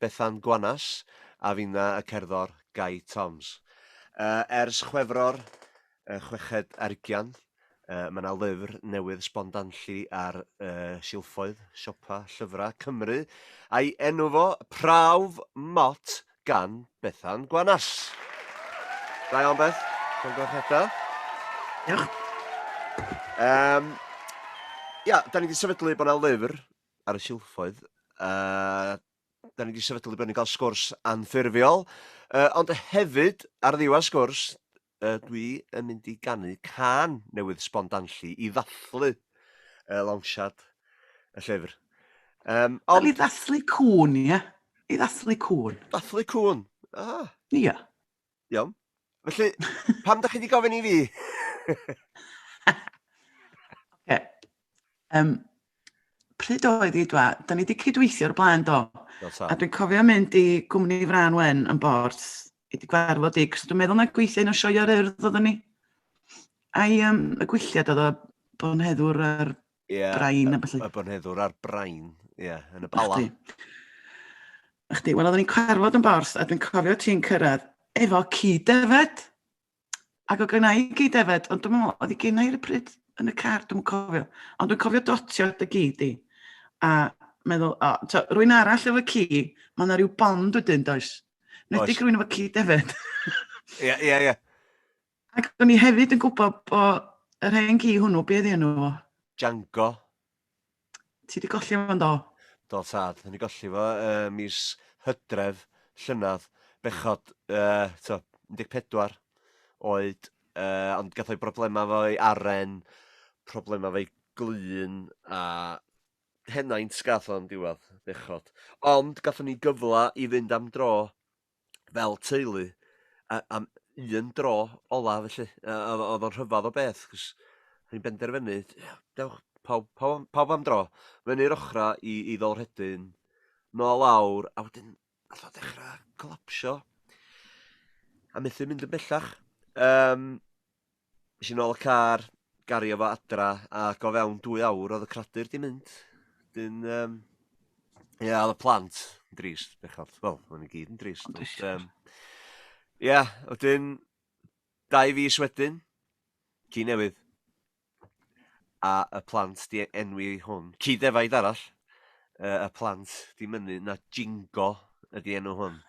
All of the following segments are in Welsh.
Bethan Gwanas a finna y cerddor Gai Toms. Ers Chwefror y chweched ar ugian, mae yna lyfr newydd sbon danlli ar silffoedd siopa llyfrau Cymru a'i enw fo, Prawf Mot gan Bethan Gwanas. Da iawn Beth, llongyfarchiadau. Diolch. Ia, da ni wedi sefydlu bod yna lyfr ar y silffoedd, a da ni wedi sefydlu bod ni'n cael sgwrs anffurfiol, uh, ond hefyd ar ddiwedd sgwrs, uh, dwi yn mynd i ganu can newydd spondanllu i ddathlu uh, lawnsiad y llyfr. Um, ond... I ddathlu cwn, ie? I ddathlu cwn. Dathlu cwn, ah. Ia. Iawn. Felly, pam da chi wedi gofyn i fi? okay. um, pryd oedd i dwa? Da ni wedi cydweithio o'r blaen do. A dwi'n cofio mynd i gwmni Fran Wen yn bord i wedi gwarfod i, cos dwi'n meddwl na gweithio un o sioio'r urdd oedden ni. Ai um, y gwylliad oedd o bod yn heddwr ar yeah, brain a felly. Y bonheddwr a'r brain, ie, yeah, yn y bala. Chdi, wel, oedden ni'n carfod yn bors, a dwi'n cofio ti'n cyrraedd efo cyd-defed. Ac o gynnau i cyd-defed, ond dwi'n meddwl, oedd i gynnau i'r pryd yn y car, dwi'n cofio. Ond dwi'n cofio dotio dy gyd i. A meddwl, o, to, rwy'n arall efo ci, mae yna rhyw bond wedyn, does? Nid i rwy'n efo cyd-defed. Ie, ie, ie. Ac o'n i hefyd yn gwybod bod yr hen gi hwnnw, be oedd enw fo? Django. Ti wedi golli fo do? Do tad, o'n i golli fo uh, mis hydref llynedd, bechod uh, to, 14 oed, uh, ond gath o'i broblemau fo'i aren, problemau fo'i glun a henaint gath o'n diwedd, bechod. Ond gathon ni gyfle i fynd am dro fel teulu a- am un dro ola felly yy odd o odd o'n rhyfadd o beth 'c'os o'n ni'n benderfynu ia dewch pawb pawb am pawb am dro fyny'r ochra i i Ddolrhedyn nôl lawr a wedyn nath o dechra colapsio a methu mynd yn bellach. Yym. Es i nôl y car, gario fo adra, ac o fewn dwy awr oedd y cradur 'di mynd. Wedyn yym ie oedd y plant yn drist bechod. Wel, o'n i gyd yn drist. Ond drist, um, Ie, wedyn dau fis wedyn, ci newydd. a y plant 'di enwi hwn. Ci defaid arall yy y plant 'di mynnu na Jingo ydi enw hwn.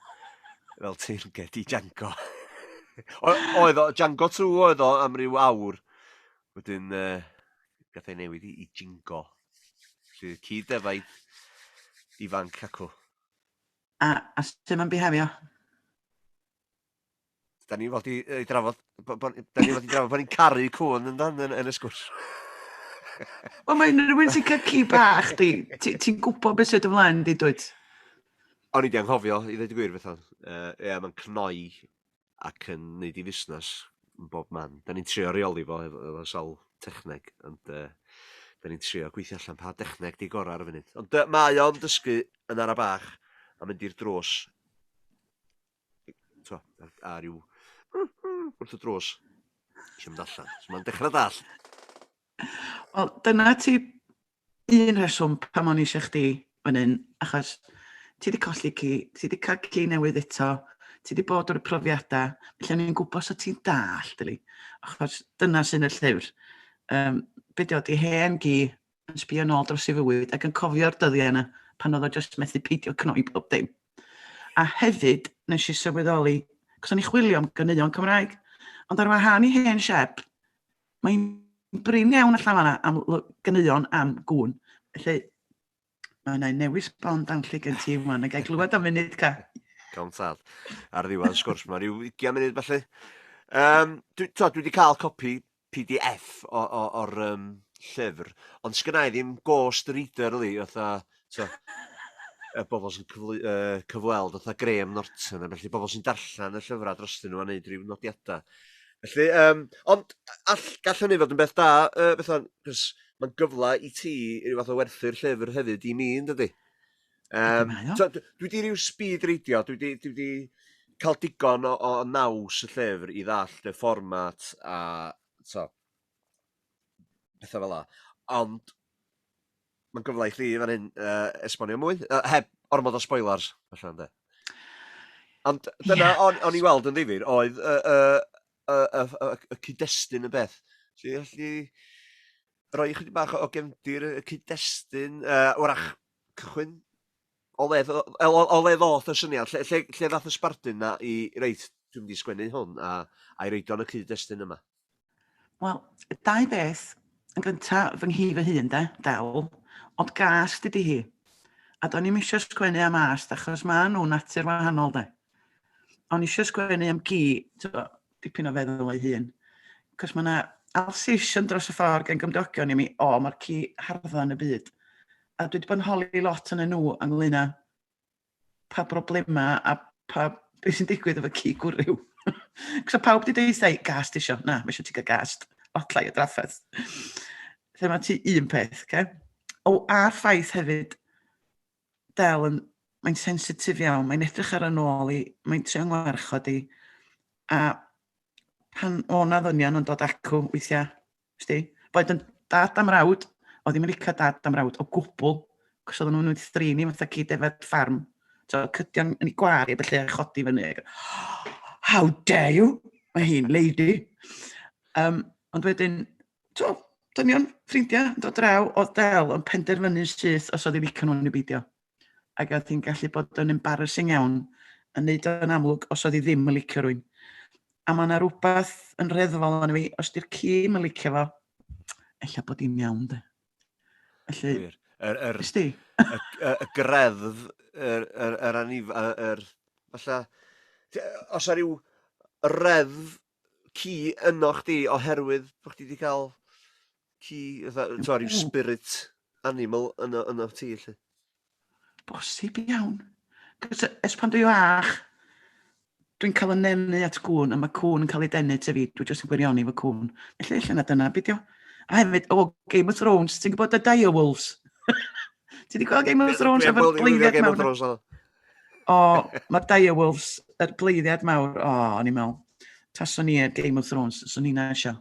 Fel teyrnged i Jango. O- oedd o Jango Two oedd o am ryw awr. Wedyn yy gath ei newid i i Jingo. Felly ci defaid ifanc acw. A a sut ma'n bihefio? Da ni fod i, i drafod, da ni fod i drafod bod ni'n caru cwn yn dan yn, yn y sgwrs. Wel, mae unrhyw un sy'n cael ci bach, ti'n ti, ti gwybod beth sydd ymlaen, di dwyt? O'n i di anghofio, i ddweud y gwir, beth o'n. Uh, e, mae'n cnoi ac yn neud i fusnes yn bob man. Da ni'n trio reoli fo efo, efo sawl techneg, ond uh, da ni'n trio gweithio allan pa dechneg di gorau ar y funud. Ond uh, mae o'n dysgu yn ara bach a mynd i'r drws t'mo' ar a ryw wrth y drws. Isio mynd allan. So ma'n dechra dallt. Wel dyna ti un rheswm pam o'n i eisiau chdi fan hyn, achos ti wedi colli ci, ti wedi cael ci newydd eto, ti wedi bod ar y profiadau, felly o'n i'n gwybod sut ti'n dallt, yli. achos dyna sy'n y llyfr. Um, be di o, di hen gi yn sbio nôl dros ei fywyd ac yn cofio'r dyddiau yna pan oedd o jyst methu peidio cnoi pob dim. A hefyd, nes i sylweddoli, cos o'n i chwilio am gyneuon Cymraeg, ond ar wahan i hen siep, mae'n brin iawn allan fanna am gyneuon am gŵn. Felly, mae yna newis bon dan lle gen ti yma, na gael glywed am munud ca. Gawn tad. Ar ddiwedd sgwrs, mae rhyw 20 munud felly. Um, dwi, to, dwi wedi cael copi pdf o o o'r yym llyfr, ond sgynnai ddim ghost reader yli fatha t'o' y bobol sy'n cyflwy- yy cyfweld fatha Graham Norton a bellu bobol sy'n darllen y llyfra drostyn nhw a neud ryw nodiada. Felly yym ond a- all- gall hynny fod yn beth da yy fatha 'c'os ma'n gyfla i ti i ryw fath o werthu'r llyfr hefyd i mi yndydi? Yym, so, dwi wedi rhyw speed reidio, dwi wedi, dwi wedi cael digon o, o naws y llyfr i ddall y fformat a so, pethau fel la. Ond mae'n gyfle i chi fan hyn uh, esbonio mwy, uh, heb ormod o spoilers, felly ynddo. Ond dyna, yeah. o'n, on i weld yn ddifur, oedd y, y, y, y, y, y cyd-destun y beth. Felly, felly, roi chydig bach o gefndir y cyd-destun, uh, wrach cychwyn o le ddo- o o o le ddoth y syniad? Lle lle lle ddath y sbardun 'na i reit, dwi'n mynd i sgwennu hwn a a'i roid o yn y cyd-destun yma? Wel, dau beth. Yn gynta, fy nghi fy hun 'de, Del, ond gas dydi hi. A do'n i'm isio sgwennu am ast achos ma' nhw'n natur wahanol 'de. O'n i isio sgwennu am gi, t'bo', dipyn o feddwl ei hun. Cos mae yna alsation dros y ffordd gen gymdogion i mi, o, mae'r ci hardda yn y byd. A dwi wedi bod yn holi lot yn y nhw ynglyn â pa broblemau a pa beth sy'n digwydd efo ci gwrw. Cos o pawb wedi dweud thai, gast isio, na, mae eisiau ti gael gast, lot lai o drafferth. Lle mae ti un peth, okay? O, a'r ffaith hefyd, Del yn... mae'n sensitif iawn, mae'n edrych ar y nôl i, mae'n trio ngwarchod i, a pan o' 'na ddynion yn dod acw weithiau, sti, boed yn dad am rawd, o ddim yn licio dad am rawd o gwbl, cos oedden nhw'n wedi thrin i fatha cyd efo'r ffarm, so cydion yn ei gwar i, felly a chodi fyny, how dare you, mae hi'n lady. Um, ond wedyn, t'o', dynion, ffrindia, yn dod draw o'dd del yn penderfynu'n syth os oedd 'i licio nhw neu beidio. Ac oedd hi'n gallu bod yn embarrassing iawn yn neud o'n amlwg os oedd hi ddim yn licio rwy'n. A mae yna rhywbeth yn reddfol yn fi, os di'r ci yn licio fo, ella bod hi'n iawn de. Felly, Yr, yr, yr, y, y, y greddf, yr, yr, yr anif, yr, yr, falle, os ar ryw reddf ci ynoch chdi oherwydd bod chdi wedi cael ci, fatha, t'mo' ryw spirit animal yno yno ti 'lly. Bosib iawn. Cos ers pan dwi fach, dwi'n cael fy nenu at gŵn, a mae cŵn yn cael ei denu ataf fi, dwi jyst yn gwirioni fy cŵn. Felly ella na dyna beth yw. A hefyd, o, Game of Thrones, ti'n gwybod y dire wolves? Ti wedi gweld Game of Thrones efo'r gleiddiad mawr? Game of Thrones, O, mae'r Dire Wolves, yr er bleiddiad mawr, o, oh, o'n i'n meddwl, taswn ni ar Game of Thrones, taswn ni'n eisio.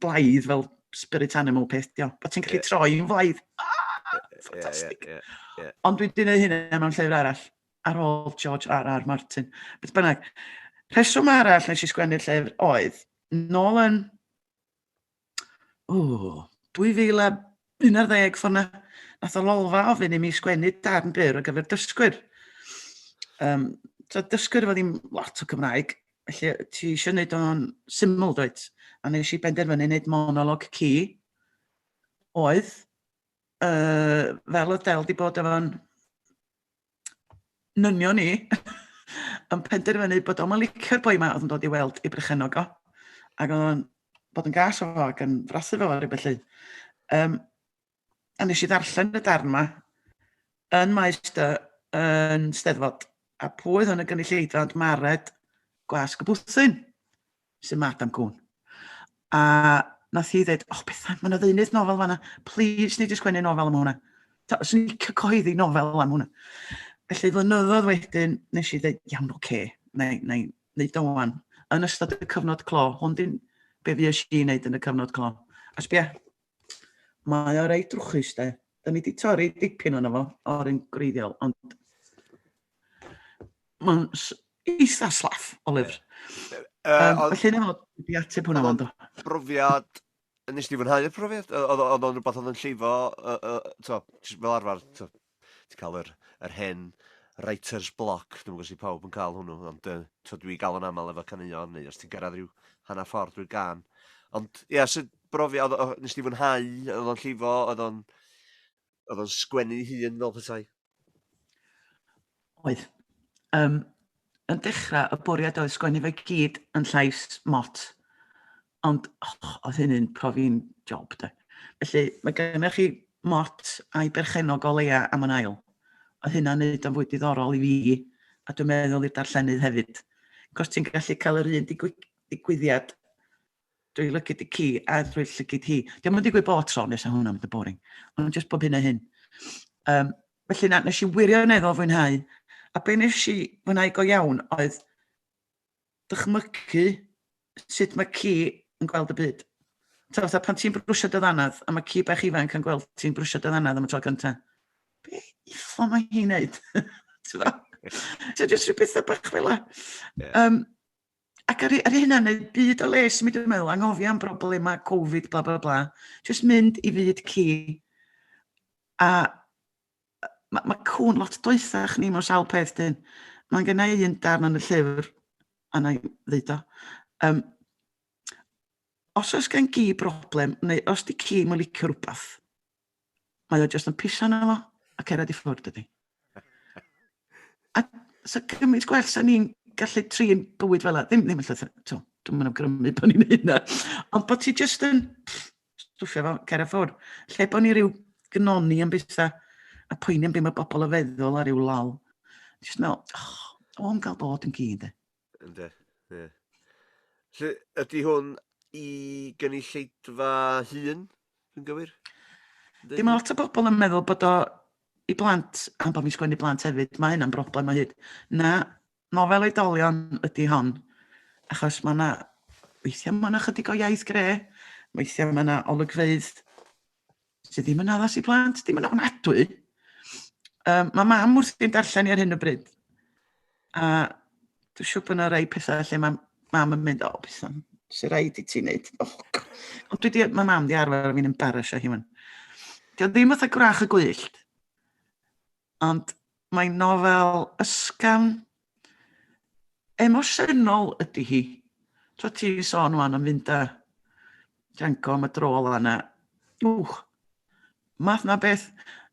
Blaidd fel spirit animal peth, dio. Bod ti'n gallu yeah. troi yn flaidd. Ah, ffantastig. Yeah, yeah, yeah, yeah. Ond dwi'n dweud hynny mewn llyfr arall, ar ôl George R. R. Martin. Beth bynnag, rheswm arall nes i sgwennu'r llyfr oedd, nôl yn o, 2011 ffordd na, nath o lolfa ofyn i mi sgwennu darn byr ar gyfer dysgwyr. Um, so dysgwyr efo ddim lot o Cymraeg, felly ti eisiau gwneud o'n syml dweud. A nes i benderfynu wneud monolog ci oedd, uh, fel oedd Del di bod efo'n nynion ni yn penderfynu bod o'n licio'r boi yma oedd yn dod i weld i brychenog o. Ac oedd o'n bod yn gas o fo ac yn frasu fo ar y felly. Um, a nes i ddarllen y darn yma yn maes dy yn steddfod. A pwy oedd yn y gynulleidfa ond Mared Gwas Gwbwthyn. Sy'n Madam Cwn. A nath hi ddeud, oh Bethan, mae'n ddeunydd nofel fanna, please ni di sgwennu nofel am hwnna. Swn i'n cael cyhoeddi nofel am hwnna. Felly flynyddoedd wedyn, nes i ddeud, iawn, oce, okay, na i wneud o wan. Yn ystod y cyfnod clo, hwn di'n be fi eisiau i wneud yn y cyfnod clo. A sbia, Mae o reit drwchus de. Da ni wedi torri dipyn o'n efo o'r un greiddiol, ond mae'n eitha slaff o lyfr. Um, um, felly nefod, wedi ateb hwnna fo'n do. Brofiad, nes di fwynhau y profiad? Oedd o'n rhywbeth oedd yn llifo, uh, uh, to, fel arfer, to, Ti'n cael yr, yr hen writer's block, dwi'm yn gwybod os ydy pawb yn cael hwnnw, ond yy, tibod, dwi gael o'n aml efo caneuon, neu os ti'n gyrraedd rhyw hanner ffordd drwy gan. Ond, ia, so brofiad, oedd, oedd, nes di fwynhau, oedd o'n llifo, oedd o'n, oedd o'n sgwennu hun fel petai? Oedd. Um, yn dechrau, y bwriad oedd sgwennu fe gyd yn llais mot. Ond, och, oedd hynny'n profi'n job, de. Felly, mae gennych chi Mott a'i berchennog o leia am yn ail. Oedd hynna'n neud o'n fwy diddorol i fi, a dwi'n meddwl i'r darllenydd hefyd. Cos ti'n gallu cael yr un digwyddiad drwy lygid y ci a drwy llygid hi. Diolch yn digwydd bod tro nes a hwnna'n mynd yn boring. Ond jyst bob hyn a hyn. Um, felly na, nes i wirioneddol fwynhau. A be nes i fwynhau go iawn oedd dychmygu sut mae ci yn gweld y byd. Ta, fatha, pan ti'n brwsio dy ddanadd, a mae ci bach ifanc yn gweld ti'n brwsio dy ddanadd am y tro cynta. Be ffo mae hi'n neud? Ti'n fawr? So, jyst rhyw bethau bach fel la. Yeah. Um, ac ar, ar hynna, neu byd o les, mi dwi'n meddwl, anghofio am broblemau Covid, bla, bla, bla. Jyst mynd i fyd ci. A Mae ma cŵn lot doethach ni mewn sawl peth dyn. Mae'n gen i un darn yn y llyfr, a na i ddeud o. Um, os oes gen gi broblem, neu os di ci mae'n licio rhywbeth, mae o jyst yn pisa na fo, a cerad i ffwrdd dydy. A so gymaint gwell sa'n ni'n gallu trin bywyd fel yna. Ddim, ddim yn llythyr, to, dwi'n mynd awgrymu bod ni'n hynna. Ond bod ti jyst yn, stwffio fo cer a ffwr. Lle bod ni rhyw gnoni am bethau a poeni am beth mae bobl yn feddwl a rhyw lol. Just meddwl, oh, o'n gael bod yn gyd. E. Ynde, ie. Lle ydy hwn i gynulleidfa hun, yn gywir? Dim mae lot o bobl yn meddwl bod o i blant, am bod fi'n sgwennu blant hefyd, mae hynna'n broblem o hyd. Na, nofel oedolion ydy hon, achos mae yna... weithiau mae yna chydig o iaith gre, weithiau mae yna olygfeydd sydd ddim yn addas i blant, ddim yn ofnadwy. Um, mae mam wrth i'n darllen i ar hyn o bryd. A dwi'n siŵr bod yna rei pethau lle mae mam yn mynd, o, oh, beth am, sy'n rhaid i ti'n neud. Oh, Ond dwi di, mae mam di arfer fi'n embarrassio hi fan. Dio ddim fatha gwrach y gwyllt. Ond mae'n nofel ysgafn, emosiynol ydy hi. Tro ti sôn wan am fynd a Django am y dro ola yna. Wch, math na beth,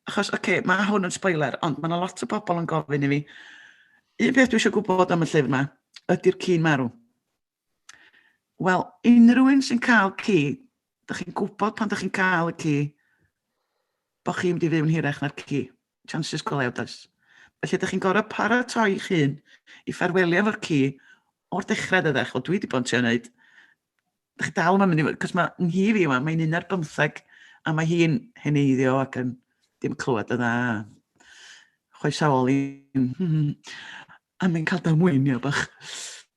achos, oce, okay, mae hwn yn spoiler, ond mae yna lot o bobl yn gofyn i fi, un peth dwi eisiau gwybod am y llyfr yma, ydy'r cyn marw. Wel, unrhyw un sy'n cael ci, da chi'n gwybod pan da chi'n cael y ci, bod chi'n mynd i fyw'n hirach na'r ci. Chances go lew, does. Felly, da chi'n gorau paratoi eich hun i ffarwelio efo'r ci o'r dechrau, dydach. O, dwi wedi bod yn trio wneud. Da chi dal yma'n mynd i fod, cos mae nghi fi yma, mae'n un ar bymtheg, a mae hi'n heneiddio ac yn dim clywed y dda. Chwaesaol i'n... A mae'n cael damwein, ia, bach.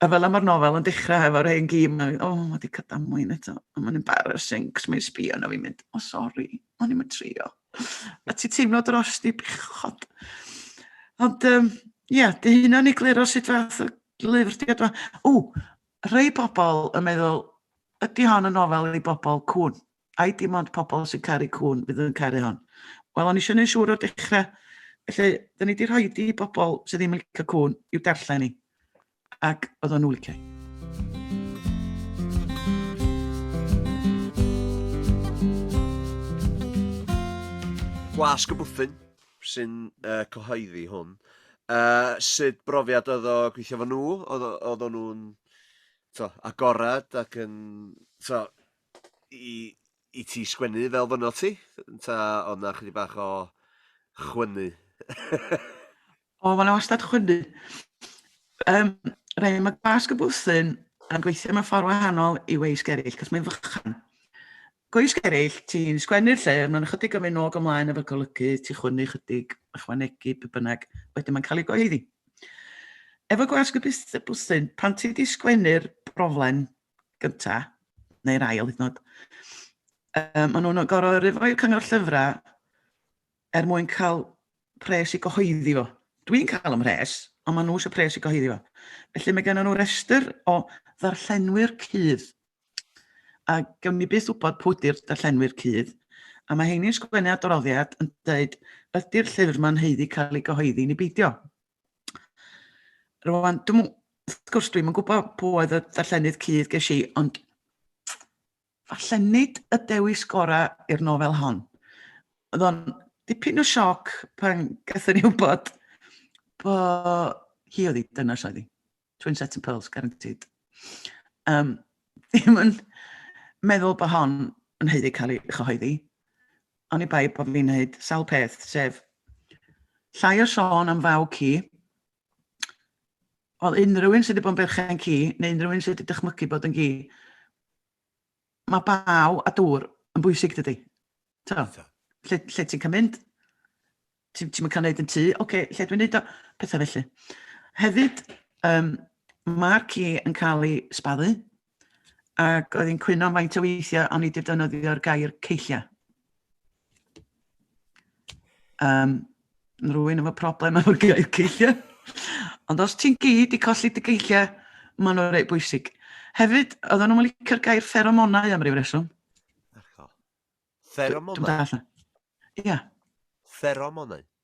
A fel mae'r nofel yn dechrau hefo'r hen gi, mae'n, o, oh, mae wedi cael damwein eto. A mae'n embarrassing, cos mae'n sbio na fi'n mynd, o, oh, sori, o'n i'n mynd trio. A ti teimlo dros di bechod. Ond, um, ia, dy hynna'n ei gliro sut fath o lyfr di adwa. O, rhai pobl yn meddwl, ydy hon yn nofel i bobl cwn? ai dim ond pobl sy'n caru cŵn fydd yn caru hon? Wel, o'n i eisiau gwneud siŵr o'r dechrau, felly, da ni wedi rhoi di i bobl sydd ddim yn licio cŵn i'w darllen i, ac oedd o'n nhw licio. Gwasg y Bwthyn sy'n uh, cyhoeddi hwn. Uh, sut brofiad oedd o gweithio fo nhw? Oedd o'n nhw'n agored ac yn... So, i, i ti sgwennu fel fynno ti? Ta oedd na chydig bach o chwynnu? o, mae'n wastad chwynnu. Um, Rhaid, mae glasg y bwthyn yn gweithio mewn ffordd wahanol i weis geraill, cos mae'n fychan. Gweis geraill, ti'n sgwennu'r lle, mae'n ychydig o mynd nôg ymlaen efo'r golygu, ti chwynnu chydig, ychwanegu, be bynnag, wedyn mae'n cael ei goeddi. Efo glasg y bwthyn, pan ti wedi sgwennu'r broblem, gyntaf, neu'r ail hyd yn oed. Um, maen nhw'n gorau rifo i'r cyngor llyfrau er mwyn cael pres i gyhoeddi fo. Dwi'n cael ym mhres, ond maen nhw eisiau pres i gyhoeddi fo. Felly mae gennym nhw restr o ddarllenwyr cydd. A gawn ni beth wybod pwy ydy'r darllenwyr cydd. A mae heini'n sgwennu adroddiad yn dweud, ydy'r llyfr mae'n heiddi cael ei gyhoeddi ni beidio. Rwan, dwi'n mwyn, wrth gwrs, dwi'n mwyn gwybod pwy oedd y darllenydd cudd ges i, ond falle nid y dewis gorau i'r nofel hon. Oedd o'n dipyn o sioc pan gathon ni wybod bod hi oedd hi, dyna sydd hi. Twin set of pearls, guaranteed. Um, ddim yn meddwl bod hon yn heiddi cael ei chyhoeddi. Oni bai bod fi'n neud sawl peth, sef llai o sôn am faw ci. Wel, unrhyw un sydd wedi bod yn berchen ci, neu unrhyw un sydd wedi dychmygu bod yn gi, Mae baw a dŵr yn bwysig dydy? Ti'n gwybod? Lle, lle ti'n cael mynd? Ti'n ti cael gwneud yn tu? Oce, okay, lle dwi'n gwneud o? Pethau felly. Hefyd, um, mae'r ci yn cael ei sbaddu, ac oedd hi'n cwyno faint o weithiau o'n i wedi defnyddio'r gair ceilliau. Um, rwy'n efo problem efo'r gair ceilliau. Ond os ti'n gyd i colli dy geilliau, maen nhw'n reit bwysig. Hefyd, oedden nhw'n licio'r gair pheromonau am ryw reswm. Pheromonau? Dwi'n dall. Ia. Pheromonau?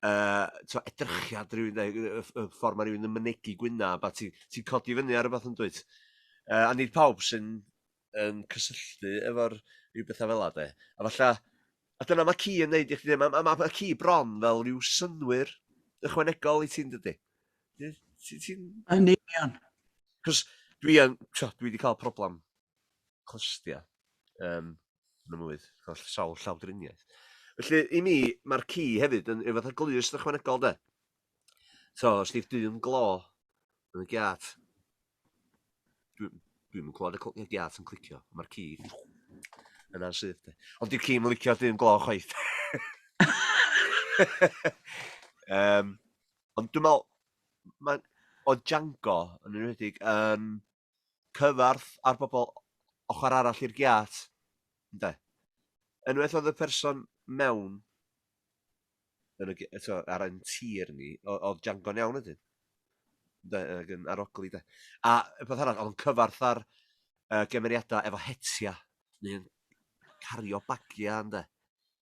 yy t'o' edrychiad rywun neu yy y ff- y ffor ma' rywun yn mynegi gwynab a ti ti'n codi fyny ar rwbath yndwyt? Yy a nid pawb sy'n yn cysylltu efo'r ryw betha fela 'de. A falla a dyna ma' ci yn neud i chdi ma' ma' ma' ma' ci bron fel ryw synnwyr ychwanegol i ti yndydi? Ie ti ti'n... Yn union. 'C'os dwi yn t'o' dwi 'di ca'l problam clustia yym yn y mlwydd, holl sawl llawdriniaeth. Felly, i mi, mae'r ci hefyd yn rhyw fath o glust ychwanegol, de. So, os di'r dyn glo yn y giat, dwi'n dwi yn clywed y giat yn clicio, mae'r ci yna sydd, de. Ond di'r ci yn licio'r dyn glo chwaith. um, ond dwi'n meddwl, mae o Django yn enwedig yn cyfarth ar bobl ochr arall i'r giât, ynde? Enwelodd y person mewn yn y, eto, ar ein tir ni, oedd Django'n iawn ydyn. Ynde, ac yn arogli, de. A y peth arall, oedd yn cyfarth ar uh, gemeriadau efo hetia, neu'n cario bagiau, ynde.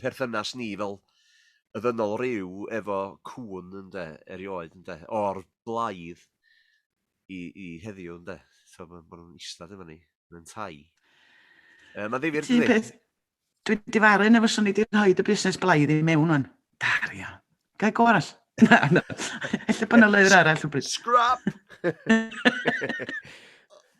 perthynas ni fel y ddynol ryw efo cŵn ynde, erioed ynde, o'r blaidd i, i heddiw ynde. So, maen ma nhw'n istad efo ni, yn tai. Uh, Mae'n ddifir dydy? peth, dwi difaru yn efo swn i wedi rhoi y busnes blaidd i mewn o'n. Dario. Gael go arall. Na, na. Ella bod yna leir arall o bryd. Scrap!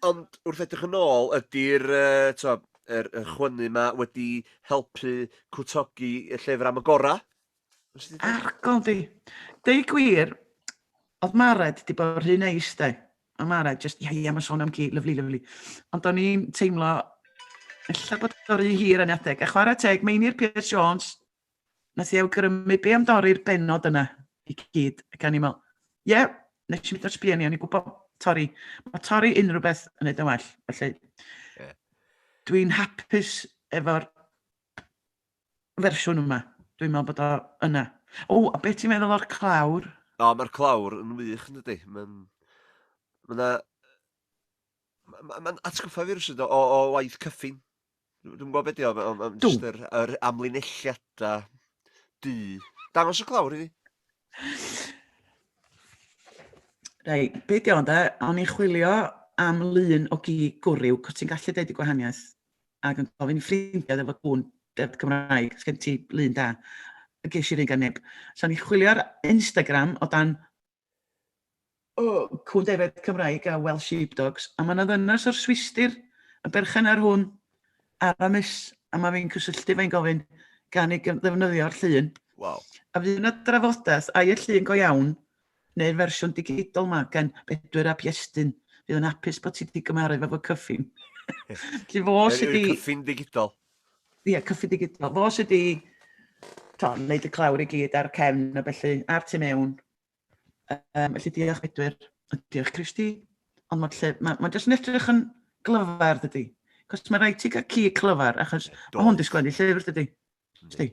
Ond wrth edrych yn ôl, ydy'r uh, er, er chwynnu yma wedi helpu cwtogi y llyfr am y gorau? Argon di. Deu gwir, oedd Mared wedi bod rhy neis de. Mae Mared, just, ia, ia, mae'n sôn am gi, lyflu, lyflu. Ond o'n i'n teimlo, illa bod o'r rhy hir yn adeg. A chwarae teg, Meinir Pierce Jones, Nes i awgrymu be am dorri'r benod yna i gyd, ac o'n i'n meddwl, ie, yeah, nes i mynd o'r sbio ni, o'n i'n gwybod torri. Mae torri unrhyw beth yn edrych yn well, felly yeah. dwi'n hapus efo'r fersiwn yma. Dwi'n meddwl bod o yna. O, a beth ti'n meddwl o'r clawr? O, mae'r clawr yn wych yn dydy. Mae'n... Mae yna Ma' ma' ma'n atgoffa fi rywsut o o o waith Cyffin. Dw- Dwi'm yn gwybod be' 'di o ma' o ma'n Do. jyst yr yr amlinelliada du. Dangos y clawr i fi. Reit, be' 'di o ynde? O'n i'n chwilio am lun o gi gwryw, cos ti'n gallu deud y gwahaniaeth, ac yn gofyn i ffrindiau efo gŵn deddf Cymraeg, sgen ti lun da? A ges i'r un gan neb. So o'n i'n chwilio ar Instagram o dan oh, cwn defaid Cymraeg a Welsh Sheepdogs, a mae yna ddynas o'r Swistir yn berchen ar hwn ar y mis, a mae fi'n cysylltu fe'n gofyn gan ei ddefnyddio'r llun. Wow. A fydd yna drafodaeth, ai y llun go iawn, neu'r fersiwn digidol yma gan Bedwyr a Piestyn, fydd yn hapus bod ti wedi gymaru fe fo cyffin. Lly fo sydd wedi... Cyffin digidol. ie, yeah, cyffy digidol. Fo sydd wedi to, wneud y clawr i gyd ar cefn a felly ar tu mewn. Um, felly diolch Bedwyr, diolch Christy. Ond mae'n lle, mae'n ma jyst yn edrych yn glyfar dydy. Cos mae rhaid ti gael ci clyfar, achos mae hwn disgwyl i llyfr dydy. Sti.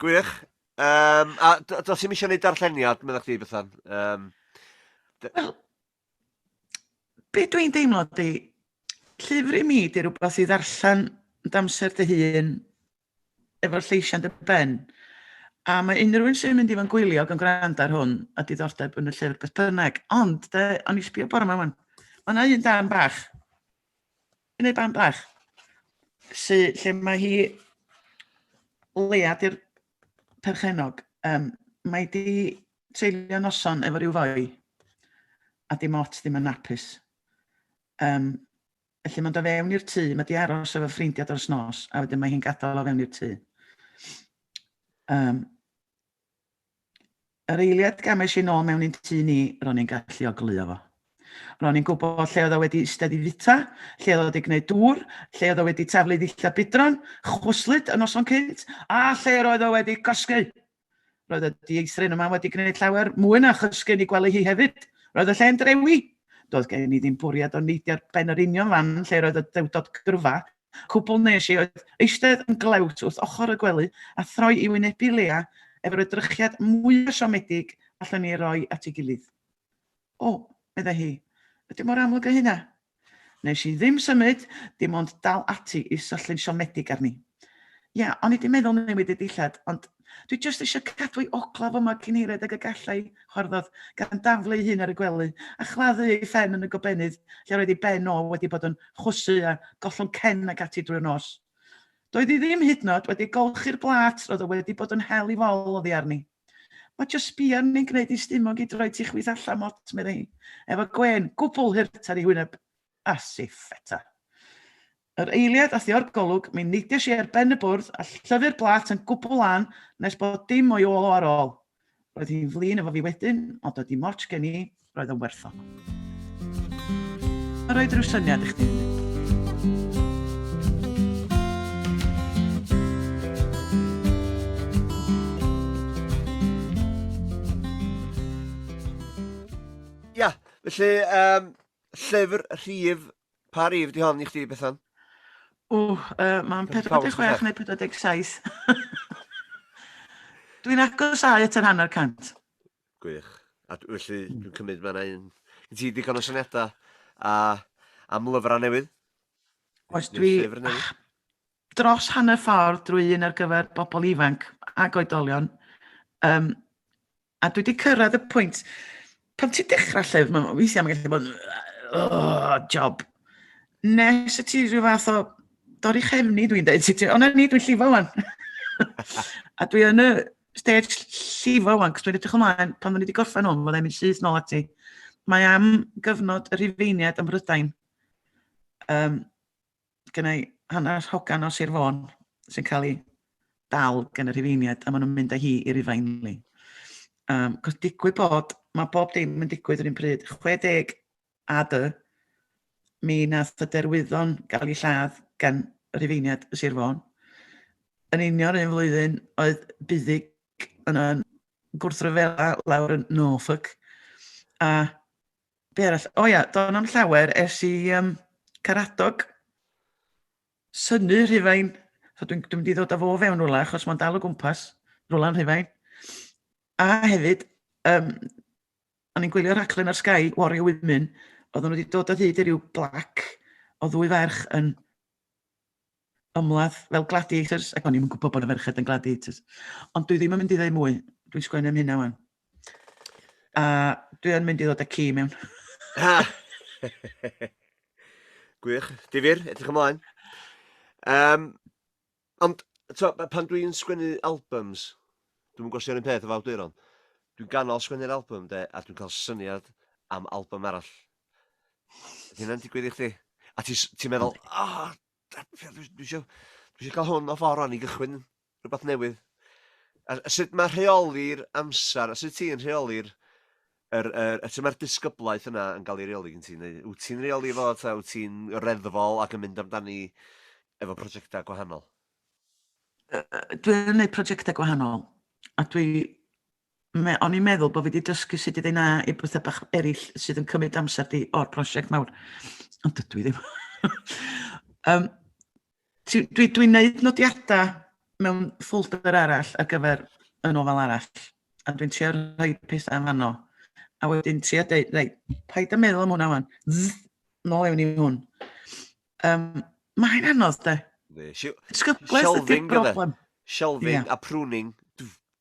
Gwych. Um, a dos i'n eisiau gwneud darlleniad, meddwl chdi, Bethan? Um, Wel, be dwi'n deimlo di, llyfr i mi di rhywbeth i ddarllen yn damser dy hun, efo'r lleisiau dy ben. A mae unrhyw un sy'n mynd i fan gwylio gan gwrando ar hwn a diddordeb yn y llyfr beth bynnag. Ond, de, o'n i sbio bore yma wan. Mae yna un dan bach. Yn ei ban bach. Sy, lle mae hi lead i'r perchenog. Um, mae di treulio noson efo rhyw foi, a dim ots ddim yn napus. Um, felly mae'n dod fewn i'r tŷ, mae di aros efo ffrindiau dros nos, a wedyn mae hi'n gadael o fewn i'r tŷ. Um, yr eiliad gamais i'n ôl mewn i'n tŷ ni, ro'n i'n gallu oglio fo. Ro'n i'n gwybod lle oedd o wedi eistedd i fita, lle oedd o wedi gwneud dŵr, lle oedd o wedi taflu ddillad bidron, chwslyd y noson cynt, a lle roedd o wedi cosgu. Roedd y dieithryn yma wedi gwneud llawer mwy na chysgu ni gwely hi hefyd. Roedd y lle'n drewi. Doedd gen i ddim bwriad o neidio ar ben yr union fan lle roedd y dewdod gyrfa. Cwbl nes i oedd eistedd yn glewt wrth ochr y gwely a throi i wynebu Leah efo'r edrychiad mwya' siomedig allwn ni ei roi at ei gilydd. O, meddai hi, ydy o mor amlwg â hynna? Wnes i ddim symud, dim ond dal ati i syllu'n siomedig arni. Ia, o'n i di meddwl newid y dillad, ond dwi jyst eisiau cadw ei ogla fo mor cynhered ag y gallai, chwarddodd, gan daflu ei hun ar y gwely, a chladdu ei phen yn y gobenydd lle roedd ei ben o wedi bod yn chwysu a gollwng cen ac ati drwy'r nos. Doedd hi ddim hyd yn oed wedi golchi'r blât roedd o wedi bod yn hel i fol oddi arni. Mae just sbio arni'n gwneud i stumog i droi ti chwith allan mot, meddai hi, efo gwên gwbl hurt ar ei hwyneb. As if, eto. Yr eiliad a thio'r golwg, mi neidiais i ar ben y bwrdd a llyfu'r blat yn gwbl lân nes bod dim o'i ôl o ar ôl. Roedd hi'n flin efo fi wedyn, ond doedd dim ots gen i, Roedd yn werthfawr. Mae roedd rhyw syniad i chdi. Ia, felly, um, llyfr rhif, pa rhif di hon i chdi, Bethan? O, uh, mae'n 46 neu 47. Dwi'n agos agosau at yr hanner cant. Gwych. A d- felly dwi'n cymryd ma' 'na un gen ti digon o syniada a am lyfra newydd? Oes dwi ah, dros hanner ffordd drwy un ar gyfer bobl ifanc ac oedolion um, a dwi wedi cyrraedd y pwynt pan ti'n dechrau llyfr mae'n weithiau mae'n gallu bod oh, job nes y ti rhyw fath o dorri chefni dwi'n dweud ti, ond ni dwi'n llifo wan a dwi yn y stage llifo wan, cos dwi'n edrych ymlaen, pan o'n i wedi gorffen hwn, mae'n mynd syth nôl ati. Mae am gyfnod y rhifeiniad ym Mhrydain. Um, Gyna i hanner hogan o Sir Fôn sy'n cael ei dal gen y rhifeiniad a maen nhw'n mynd â hi i Rufain ni. Um, cos digwydd bod, mae bob dim yn digwydd yr un pryd. 60 a dy, mi nath y derwyddon gael ei lladd gan Rhufeiniad y Sir Fôn. Yn union un flwyddyn oedd Buddig yn yn gwrthryfela lawr yn Norfolk. A be arall? O ia, do'n am llawer ers i um, Caradog synu Rhufain. So dwi'n dwi mynd i ddod â fo fewn rhywle achos mae'n dal o gwmpas rhywle'n Rhufain. A hefyd, um, o'n i'n gwylio rhaglen ar Sky, Warrior Women, oedden nhw wedi dod o hyd i ryw blac o ddwy ferch yn ymladd fel gladiators, ac o'n i'n gwybod bod y ferched yn gladiators. Ond dwi ddim yn mynd i ddweud mwy, dwi'n sgwennu am hynna wan. A dwi yn mynd i ddod â ci mewn. Ha! Gwych, difyr, edrych ymlaen. Um, Ond, t'mo', b- pan dwi'n sgwennu albums, dwi'm yn gwbo' os 'di o'n 'r un peth efo awduron, dwi'n ganol sgwennu'r album 'de a dwi'n ca'l syniad am album arall. Ydi hynna'n digwydd i chdi? A ti s- ti'n meddwl o da- pry- dwi dwi isio dwi isio ca'l hwn off o rwan i gychwyn rwbath newydd. A a sut ma' rheoli'r amsar a sut ti'n rheoli'r yr yy y lle ma'r disgyblaeth yna yn ga'l 'i reoli gen ti neu wt ti'n reoli fo 'ta wt ti'n reddfol ac yn mynd amdani efo prosiecta gwahanol? Yy yy dwi yn neud prosiecta gwahanol a dwi me- o'n i'n meddwl bo' fi 'di dysgu sut i ddeu na i betha bach eryll sydd yn cymryd amser di o'r prosiect mawr ond dydw i ddim. Yym Ti- dwi- Dwi'n neud nodiadau mewn ffolder arall ar gyfer y nofel arall, a dwi'n trio rhoi pethau yn fanno. A wedyn trio deud, reit, paid â meddwl am hwnna wan. Zzz, nôl ewn i hwn. Um, mae hyn anodd, de. Disgyblaeth ydy'r broblem. Shelving yeah. a pruning.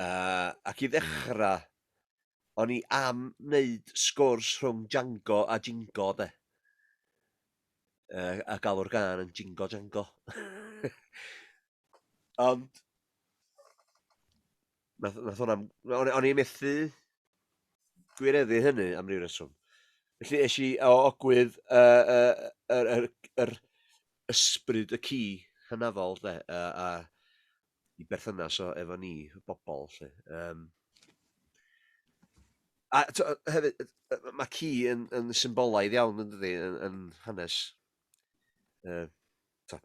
Uh, ac i ddechrau, mm. o'n i am wneud sgwrs rhwng Django a Jingo, de. Uh, a galw'r gan yn Jingo Django. Ond, nath, nath hwnna, o'n i methu gwireddu hynny am ryw reswm. Felly eis i o ogwydd yr uh, uh, uh, uh, ysbryd y ci hynafol, de, a, a i berthynas o efo ni y bobol 'lly yym. A t'o' yy hefyd yy yy ma' ci yn yn symbolaidd iawn yndydi yn yn hanes yy t'o'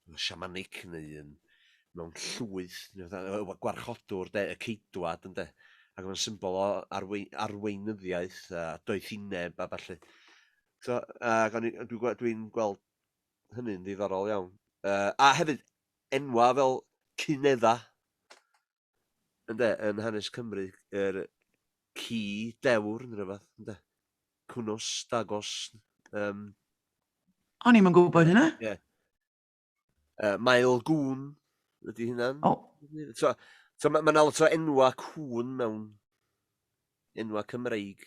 yn siamanig neu yn mewn llwyth ne' fatha yy y gwarchodwr 'de y ceidwad ynde ag ma'n symbol o arwei- arweinyddiaeth a doethineb a ballu. T'o' ag o'n i yy dwi gwe- dwi'n gweld hynny'n ddiddorol iawn yy a hefyd enwau fel Cunedda, ynde, yn hanes Cymru, yr ci dewr neu rywbeth, ynde? Cwnos, dagos, um... O'n i'm yn gwybod hynna. Yeah. Uh, Mael gŵn ydy hynna'n. Oh. So, so mae ma yna lot o enwa cŵn mewn enwa Cymreig.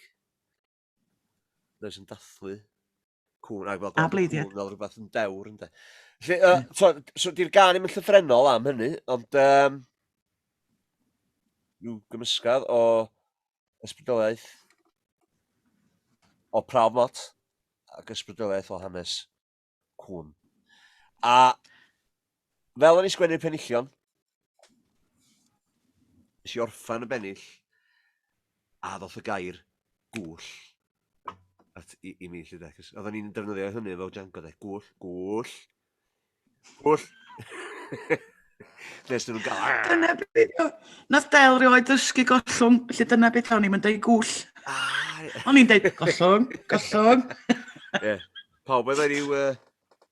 Does yn dathlu. Cŵn, ac fel... A bleidiau. Fel rhywbeth yn dewr, ynddo. Felly, uh, mm. so, so di'r gan ddim yn llythrenol am hynny, ond um, rhyw gymysgad o ysbrydoliaeth o prawf mot ac ysbrydoliaeth o hanes cwn. A Fel o'n i sgwennu'r penillion, nes i orffan y bennill, a ddoth y gair gŵll at i, i mi, lle de, cos oedden ni'n defnyddio hynny fel Django de, gŵll, gŵll, gŵll. Nes nhw'n gael... Ah! Dyna beth o... Nath Del rioed ddysgu gollwng, felly dyna beth o'n i'n mynd ei gŵll. Ah! O'n i'n deud gollwng, gollwng. Ie. Pawb oedd wedi uh,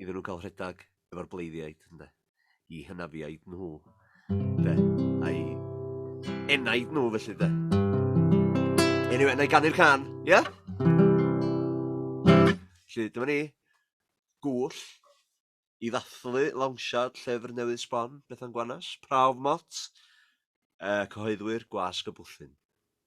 iddyn nhw gael rhedeg efo'r bleiddiaid, ynde, i hynafiaid nhw, ynde, a'i enaid nhw felly, ynde. Anyway, na i ganu'r can, ie? Yeah? Felly, dyma ni, gŵll, i ddathlu lawnsiad llyfr newydd sbon, Bethan Gwanas, Prawf Mot, uh, cyhoeddwyr Gwasg y Bwllyn.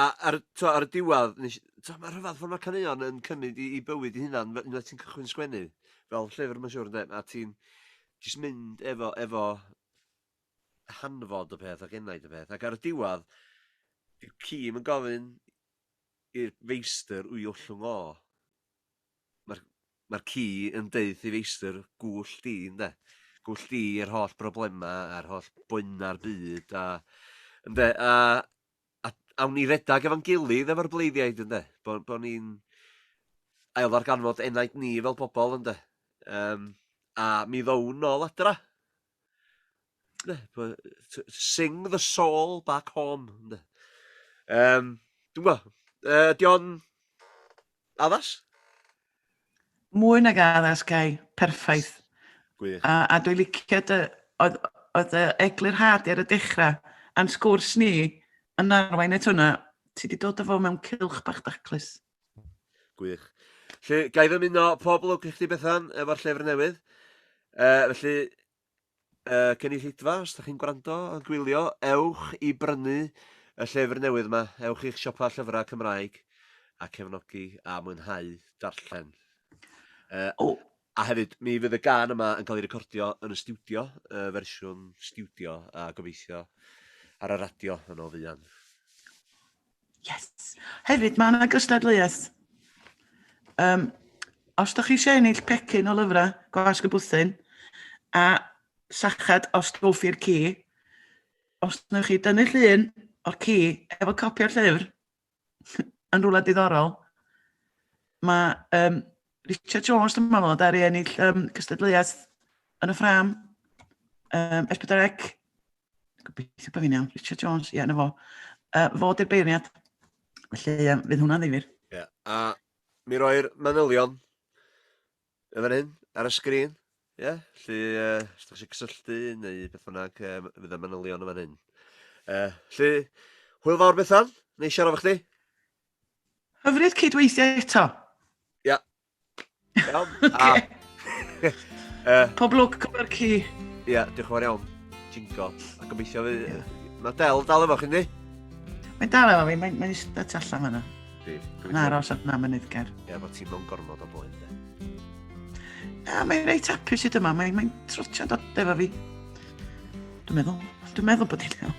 A ar t'mo' ar y diwadd nes i t'mo' ma' rhyfadd fel ma' caneuon yn cymyd 'i 'i bywyd 'i hunan fe- unwaith ti'n cychwyn sgwennu, fel llyfr ma'n siŵr ynde a ti'n jyst mynd efo efo hanfod y peth ac enaid y peth ac ar y diwadd dyw ci'm yn gofyn i'r feistr wy ollwng o. Ma'r ma'r ci yn deuth i feistr gwll di ynde? Gwll di yr holl broblema a'r holl boenau'r byd a ynde a a awn ni redag efo'n gilydd efo'r bleiddiaid ynde? Bo' bo' ni'n ailddarganfod enaid ni fel pobol ynde? Yym a mi ddown nôl adra. Ne? Bo' yy t- sing the soul back home ynde? Yym dw'bo yy 'di o'n Addas? Mwy nag addas, Cai. Perffaith. Gwych. A, a dwi'n licio dy... Oedd, oedd y eglurhad ar y dechrau, a'n sgwrs ni, yn arwain at hwnna. Ti wedi dod o fo mewn cylch bach daclus. Gwych. Felly, gai fy muno pob lwc i chdi Bethan, efo'r llyfr newydd. Uh, felly, y cynulleidfa, os ydych chi'n gwrando a gwylio, ewch i brynu y llyfr newydd yma, ewch i'ch siopa llyfrau Cymraeg a cefnogi a mwynhau darllen. Uh, oh. A hefyd, mi fydd y gan yma yn cael ei recordio yn y studio, y fersiwn studio, a gobeithio ar y radio yn o fuan. Yes. Hefyd, mae yna gystadleuaeth. Um, os da chi eisiau ennill pecyn o lyfrau gwasg y bwthyn, a sachad os dolfi'r ci, os wnewch chi dynnu llun o'r ci efo copi o'r llyfr yn rhywle diddorol, mae um, Richard Jones, dwi'n meddwl, ddaru ennill um, cystadleuaeth yn y ffram. Um, Esbydrec. Gobeithio bod fi'n iawn. Richard Jones, ie, yeah, na fo. Uh, fo di'r beirniad. Felly, um, fydd hwnna'n ddifur. Ie, yeah. a mi roi'r manylion y fan hyn, ar y sgrin. Ie, yeah. felly, uh, os ydych chi'n cysylltu neu beth bynnag, um, fydd y manylion y fan hyn. Uh, felly, hwyl fawr Bethan, neu siarad efo chdi. Hyfryd cydweithio eto. Ia. Iawn. Okay. uh, Pob lwc gyfer ci. Ia, yeah, diolch yn fawr iawn. Jingo. A gobeithio fi... Yeah. Mae Del dal efo chi, ni? Mae'n dal efo fi, mae'n mae eistedd tu allan fanna. Yn aros at na mynydd ger. Ia, bod ti'n mewn gormod o boen, de. Na, mae'n reit hapus i dyma, mae'n mae trwtio dod efo fi. Dwi'n meddwl, dwi'n meddwl bod hi'n iawn.